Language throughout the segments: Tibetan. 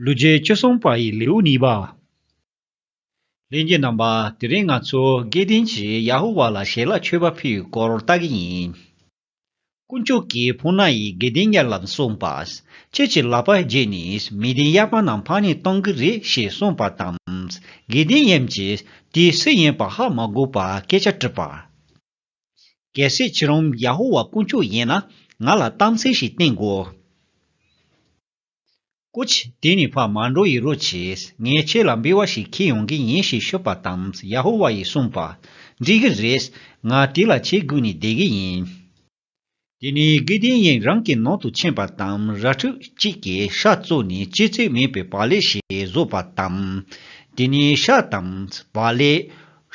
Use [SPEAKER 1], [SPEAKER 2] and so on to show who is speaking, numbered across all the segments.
[SPEAKER 1] ལུས་རྗེས་བཅུ་གསུམ་པ་ཡི་ལེའུ་གཉིས་པ། ལྷན་སྐྱེས་རྣམ་པ་དེ་རིང་ང་ཚོ་དགེ་ལྡན་གྱིས་ཡ་ཧུ་བྷ་ལ་ཞལ་ལག་མཆོད་པ་ཕུལ་བའི་སྐོར་ལྟ་གི་ཡིན། དཀོན་མཆོག་གིས་བྷུ་ན་ཡིས་དགེ་ལྡན་ཉེར་ལམ་གསུངས་པ། ཁྱེད་ཀྱི་ལག་པ་བརྒྱད་ནི་མི་ལྡན་གཡར་པ་རྣམས་འཕངས་ནས་གཏོང་གི་རེད་ཞེས་གསུངས་པ་དང། དགེ་ལྡན་དབྱངས་ཀྱིས་དེའི་སུ་ཡིན་པ་ཧ་མ་གོ་བར་སྐད་ཆ་དྲིས་པར། གལ་སྲིད་ཁྱེད་རང་ཡ་ཧུ་བྷ་དཀོན་མཆོག་ཡིན་ན་ང་ལ་གཏམ་ཚིག་ཞིག་བསྟན་དགོས། ཀུ་ཆེ་དེ་ནི་བག་མ་འགྲོ་ཡི་རོ་བྱེད། ངས་ཁྱེད་ལ་འབུལ་བ་ཞིག་ཁྱེར་ཡོང་གི་ཡིན་ཞེས་ཤོད་པ་དང་ཡ་ཧོ་ཝཱ་ཡིས་གསུངས་པ། འགྲིག་གི་རེད། ང་དེ་ལ་ཆེས་སྒུག་ནས་བསྡད་ཀྱི་ཡིན། དེ་ནས་དགེ་ལྡན་གཡེང་རང་གི་ནང་དུ་ཕྱིན་པ་དང་ར་ཕྲུག་གཅིག་གི་ཤ་བཙོས་ནས་ལྕེ་རྩེ་མེད་པའི་བག་ལེ་ཞིག་བཟོས་པ་དང། དེ་ནས་ཤ་དང་བག་ལེ།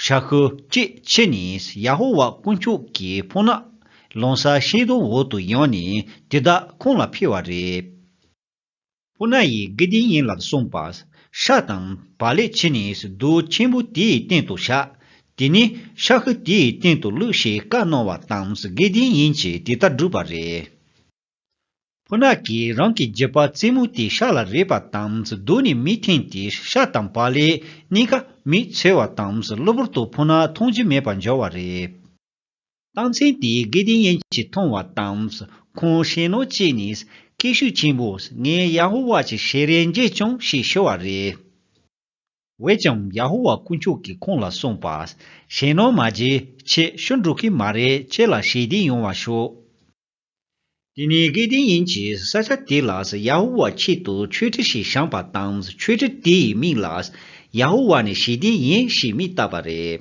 [SPEAKER 1] ཧྲ་ཧུ་ཀྱི་ཕྱི་ནས་ཡ་ཧོ་ཝཱ་དཀོན་མཆོག་གི་བྷོ་ན་ལོང་ས་ཤེ་དོ་འོག་ཏུ་ཡང་ནས་དེ་དག་ཁོང་ལ་འཕེལ་བ་རེད། བྷོ་ན་ཡིས་དགེ་སྡིག་གཉིས་ལ་གསུངས་པ། ཧྲ་དང་བྷ་ལའི་ཕྱི་ནས་རྡོ་ཆེན་པོ་དེའི་སྟེང་དུ་བཞག་དེ་ནི་ཧྲ་ཧུ་དེའི་སྟེང་དུ་བླུགས་ཞེས་བཀའ་གནང་བ་དང་དགེ་སྡིག་གཉིས་ཀྱིས་དེ་དག་བསྒྲུབས་པ་རེད། ཕུ་ནག་གིས་རང་གི་རྗེས་དཔག་རྩེད་མོ་དེ་ཤ་ལ་རེག་པ་དང་སྡུག་ནས་མི་ཐེངས་དེ་ཤ་དང་བག་ལེ་གཉིས་ཀ་མིས་འཚོལ་བ་དང་གློ་བུར་དུ་ཕུ་ནག་མཐོང་རྒྱུ་མེད་པར་འབྱོར་བ་རེད། རྟགས་མཚན་དེ་དགེ་ལྡན་ཡན་གྱིས་མཐོང་བ་དང་ཁོང་ཞེ་ནོར་སྐྱེས་ནས་སྐད་ཤུགས་ཆེན་པོས་ངས་ཡ་ཧོ་ཝཱ་ཀྱི་ཞལ་རས་མཇལ་བྱུང་ཞེས་ཤོད་བ་རེད། འོན་ཀྱང་ཡ་ཧོ་ཝཱ་དཀོན་མཆོག་གིས་ཁོང་ལ་གསུངས་པ། ཞེ་ནོར་མ་བརྗེད་ཆེད་ཤོར་འགྲོ་གི་མ་རེད་ཁྱེད་ལ་ཞལ་བདེ་ཡོང་བ་ཤོག། དེ་ནི་སྐལ་ལྡན་ཡིན་གྱིས་ས་ཆ་དེ་ལ་ཡ་ཧུ་བྷ་ཆེད་དུ་མཆོད་ཁྲི་ཞིག་བཞེངས་པ་དང་མཆོད་ཁྲི་དེའི་མིང་ལ་ཡ་ཧུ་བྷ་ནི་ཞི་བདེ་ཡིན་ཞེས་མིང་བཏགས་པ་རེད།